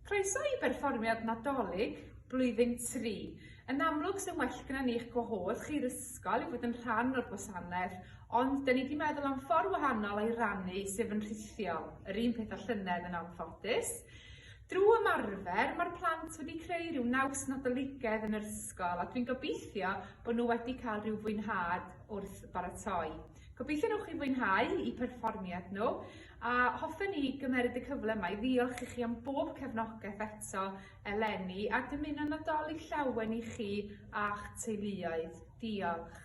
Croeso i berfformiad Nadolig blwyddyn tri. Yn amlwg sy'n well gyda ni eich gwahodd chi'r ysgol i fod yn rhan o'r gwasanaeth, ond dyn ni wedi meddwl am ffordd wahanol o'i rannu sef yn rhithiol, yr un peth â llynedd yn anffodus. Drwy ymarfer, mae'r plant wedi creu rhyw naws Nadoligedd yn yr ysgol a dwi'n gobeithio bod nhw wedi cael rhyw fwynhad wrth baratoi. Gobeithio nhw chi fwynhau i perfformiad nhw a hoffen ni gymeryd y cyfle yma i ddiolch i chi am bob cefnogaeth eto eleni a dymuno Nadolig llawen i chi a'ch teuluoedd. Diolch.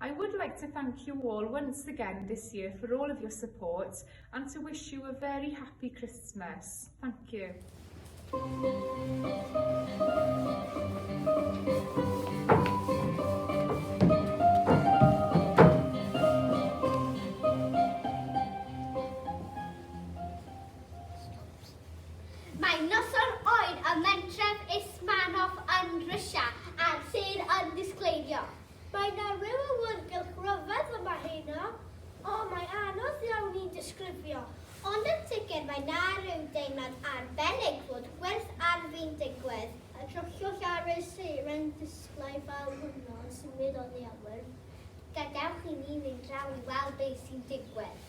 I would like to thank you all once again this year for all of your support and to wish you a very happy Christmas. Thank you. Mae noson oer ym Mentref Usmanov yn Rwsia a'r sêr yn disgleirio. Mae 'na ryw awyrgylch ryfedd yma heno. O, mae anodd iawn i'n disgrifio. Ond yn sicr mae 'na ryw deimlad arbennig fod gwerth arfi'n digwydd. Y crychioll ar y seiren disglair fel hwnnw yn symud oddi ar wyrth. Gadewch i ni fynd draw i weld be' sy'n digwydd.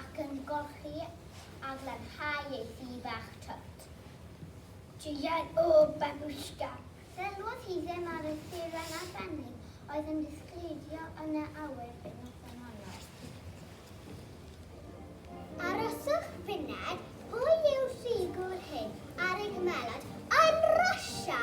ac yn golchi a glanhau ei thŷ bach twt. Diod o babushka! Sylwodd hi ddim ar y seren arbennig oedd yn disgleirio yn y awyr y noson honno. Aroswch funud, pwy yw'r ffigwr hyn ar ei gmelod yn Russia?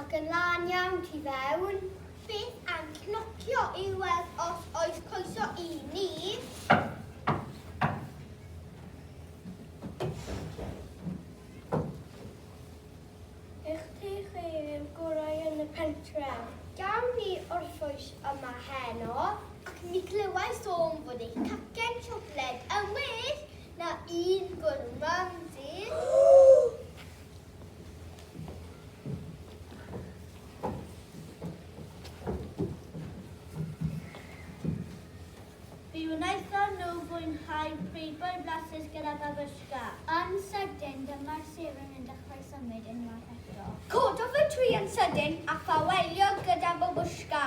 Ac yn lân iawn tu fewn. Beth am cnocio i weld os oes coeso i ni? Eich ti chi yw'r gorau yn y pentref. Gawn ni orffwys yma heno? Ac mi glywai sôn bod eich cacen siocled yn well na un gwrw mam, Sid. Fi wnaethon nhw fwynhau preifboy flasus gyda babushka. Yn sydyn, dyma'r seren yn dechrau symud unwaith eto. Cododd y tri yn sydyn a ffaelio gyda babushka.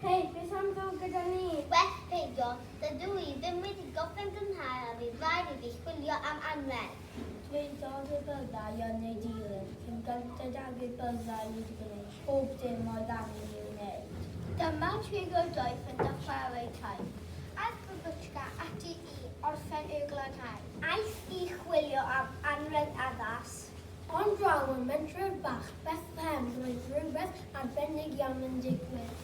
Hei, beth am ddod gyda ni? Well peidio, dydw i ddim wedi gorffen gynghrair a fydd rhaid i fi chwilio am anrheg. Dwedodd y bydda i yn ei dilyn, cyn gynted ag y bydda i wedi gwneud pob dim oedd angen i'w wneud. Dyma dri o doi ffrind a chwarae teg. Aeth Babutchka ati i orffen ei glanhau. Aeth i chwilio am anrheg addas. Ond draw ym mentref bach Bethlehem roedd rhywbeth arbennig iawn yn digwydd.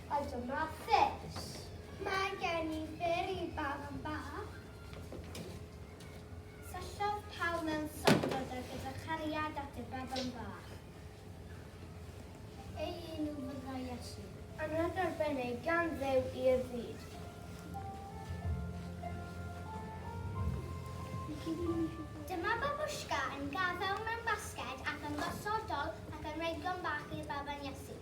a dyma pres. Mae gen i byr i bawb yn ba. Syllodd pawb mewn sofod a gyda chariad at y baban bach. Ei enw fydda Iesu. Anad arbennig gan ddew i'r byd. Dyma babushka yn gadael mewn basged ac yn gosodol ac yn rhedgo'n bach i'r baban Iesu.